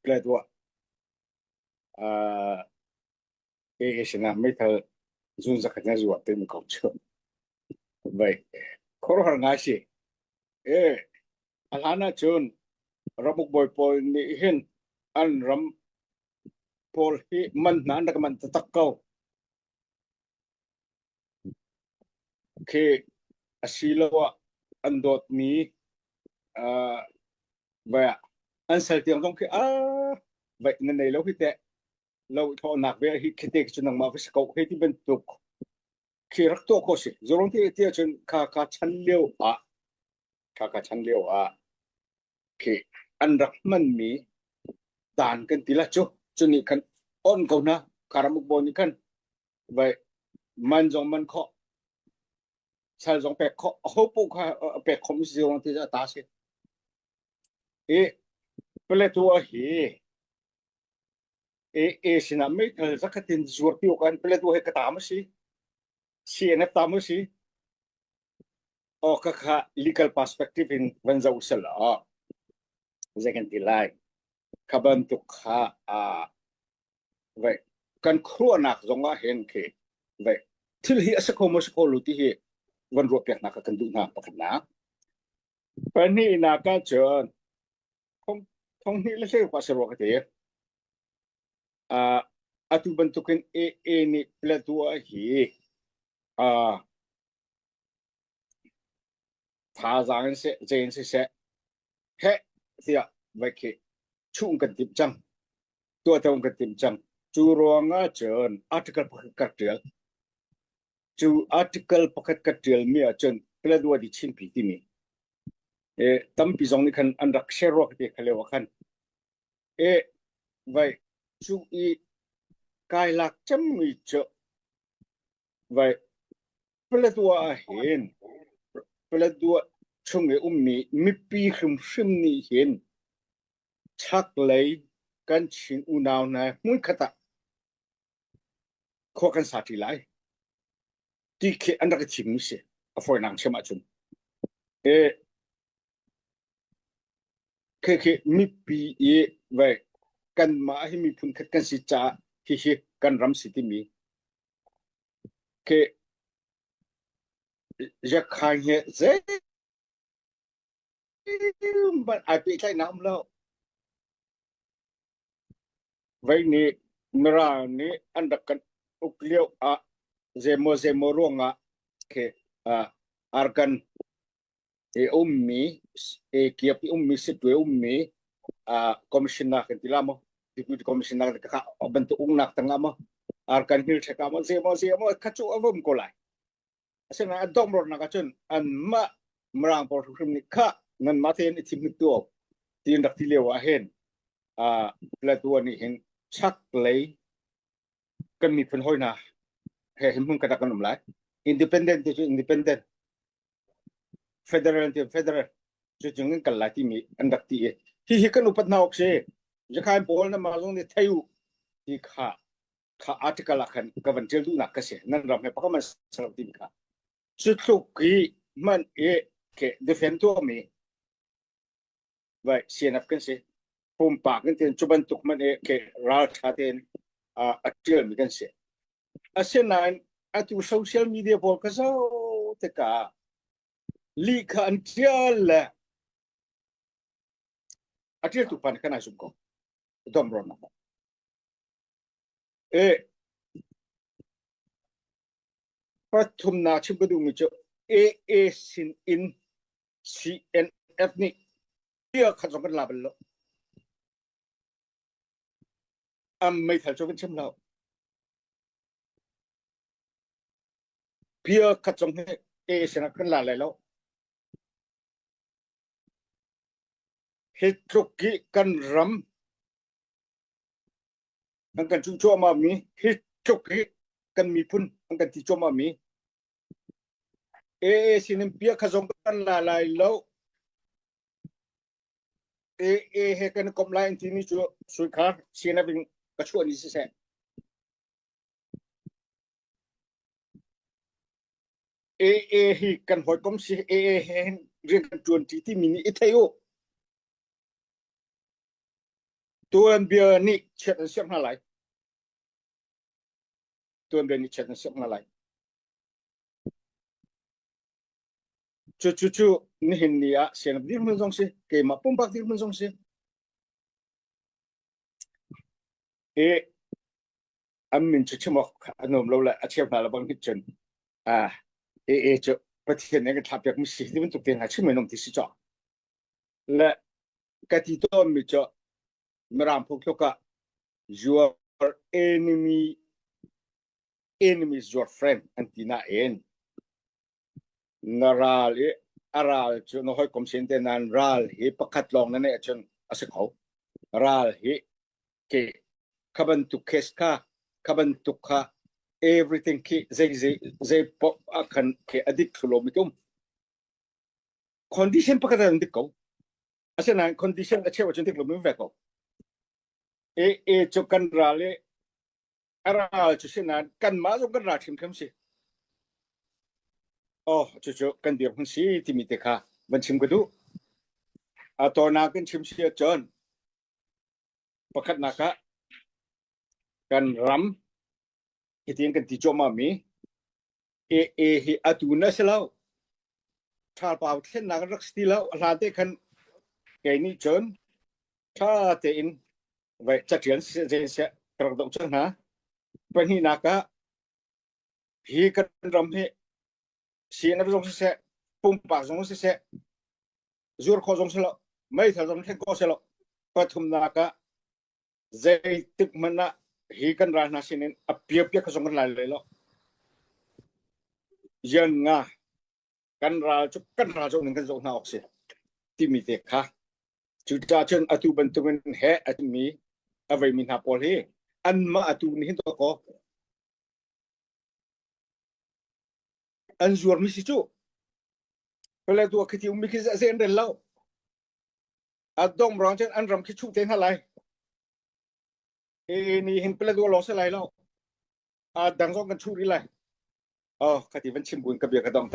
Plet uah aa kei sin ah meithal zun zakhat na zuah te ko cu. Vai khuaruahhar ngai si. Ee, a hlan ah cun ramuk bawi pawl nih hin an ram pawl hi man hna an rak manh taktak ko. khi asiloah an dawtmi uh, vai ah an sal tiang zong khi a vai na nei lo hi teh lo thawhnak ve hi khi te cu nangmah va si ko hei ti bantuk khi rak tuah ko si zorong ti ti ahcun kha ka chan lio ah kha ka chan lio ah khi an rak hmanmi dan kan ti la cu cuni kan on ko na karamuk bo nih khan vai man zong man kho sal zong pek kho a ho pu kha pek khom si zong ti ta si i Plateau hi e e sinah mei thal zakhatin zuar pi kan Plateau he ka tam si CNF tam si o ka kha legal perspective in van zo sala zekan ti lai khaban tuk kha a Ve, kan khuanak zong ah hen khi ve thil hi a si kho maw si kho lo ti hi van ruah piak nak kan duh hna pakhatnak pahnihnak ah cun thong hnih le thei pa se ruak te atu bantukin AA nih platu hi a Thazaang in seh, ce in siseh, heh tiah vaih khi chuh kan timh cang. Tuahto kan timh cang. Cu ruang ah cun article pakhat ka ṭial. Cu article pakhat ka ṭialmi ah cun Paladua di Chinpi timi e, tampi zong nih khan an rak share ruak ti kha leo khan e vai chu i kai lak cemmi cu vai Paletwa ahhin Paletwa chung i ummi mipi hrimhrim nih hin chaklei kan Chin unau hna hmunkhat ah khua kan sa ṭi lai ti khi an rak i thimmi si a fawinak chim ahcun e khekhe mipi i vai kanmah hi miphun khat kan si caah hihi kan ram si timi Keh Yakhain he zeihmanh ai pehtlaihnak um lo. Vei nih Mirang nih an rak kan uk lio ah zeimaw zeimaw ruangah khe uh, arkan e ummi e kiap i ummi sitwe ummi uh, commissioner kan ti la mo deputy commissioner ka ban tu ung nak tanga mo ar kan hil theka mo se mo se mo kha chu avum ko lai asena adom ror na ka chun an ma mrang por hrim ni kha nan ma ten i thim tu tin rak ti lewa hen a plato ni hin chak lei kan mi phun hoi na he him hun ka ta kan um lai independent tu independent Federal tiah federal cu chung in kan lai timi an rak ti i hihi kan upat hna awk si zakhain pawl na mah zong nih thei u ti kha kha article ah khan ka van tial duhnak ka si nan ram he pakam an ser timi kha cu tluk i hman i ke defend tuahmi vai CNF kan si pumpak kan tin cu bantuk man e ke raltha ten a tial mi kan si asinain atu social media pawl ka zo te ka li kha an tial le a tial tu pan kan ai sum ko dom ron e pathum na chim ka du mi chu AA sin in CNF nih bia khat zong kan la bal lo. Am meithal cu kan chim lo. Bia khat zong hi AA sinah kan la lai lo. Hi tluk hi kan ram an kan cu chuahma mi hi tluk hi kan miphun an kan ti chuahma mi AA sinin piah kha zong kan la lai lo. AA he kan komh lai an timi cu sui kha sinah in ka chuah ni siseh. AA hi kan hoi kom si AA he hin rian kan tuan ti timi nih i thei u. Tuan bia nih chiat an siam hna lai. tuanven i chet na sak hna lai. Cu cu cu nihin ni ah sianam dirhmun zong si, keimah pumpak dirhmun zong si. I an min cu chimok a nuam lo le a cheu hna la bang hit cun ah e e cu pathian nih kan thlap piak mi si ti bantuk te hna chim men om ti si cho le ka ti tawn mi cho Mirang phung thluk ah your enemy enemies your friend an ti na en na ral i a ral cu na hoi kom sin te nan ral hi pakhat lawng na ne chun a si kho ral hi ke khabantuk case kha khabantuk kha everything khi zei zei zei pop a khan ke adik thlulo mi tum condition pakhat an dik ko Asinain condition a cheu cun dik lomi ve ko. E e cu kan ra le a ral cu sinan kan ma zong kan ra hrimhrim si. Oh, cu cu kan dir hun si timi te kha van chim ka duh. A tona kan chim si cun pakhat nak ah kan ram hitin kan ti choma mi AA hi atu na si lo. Thalpau thlennak rak si ti lo. A hlan te khan kei nih cun tha tein vai catian si je se rak dong cun hna. Pahnih nak ah hi kan ram hi CNF zong si se, pumpak zong si se, zur kho zong si lo, meithal zong thlen ko si lo, pathum nak ah Zeitik hmanh ah hi kan ral hna sinin a piapia kha zong kan lai lai lo. Yan nga kan ral cu kan ral zong ning kan zoh hna awk si timi te kha cuca cun atu bantukin he a mi aveimi hna pawl hi anmah atu nih hin to kaw an zuarmi si cu pale tu a khiti ummi khi ze an rel lo A dongh rang cun an ram khi chuh te hna lai. Hi ni hin Paladua lawng si lai lo. Aa dang zong kan chuh rih lai. Oh, ka ti van chim buin ka bia ka dong.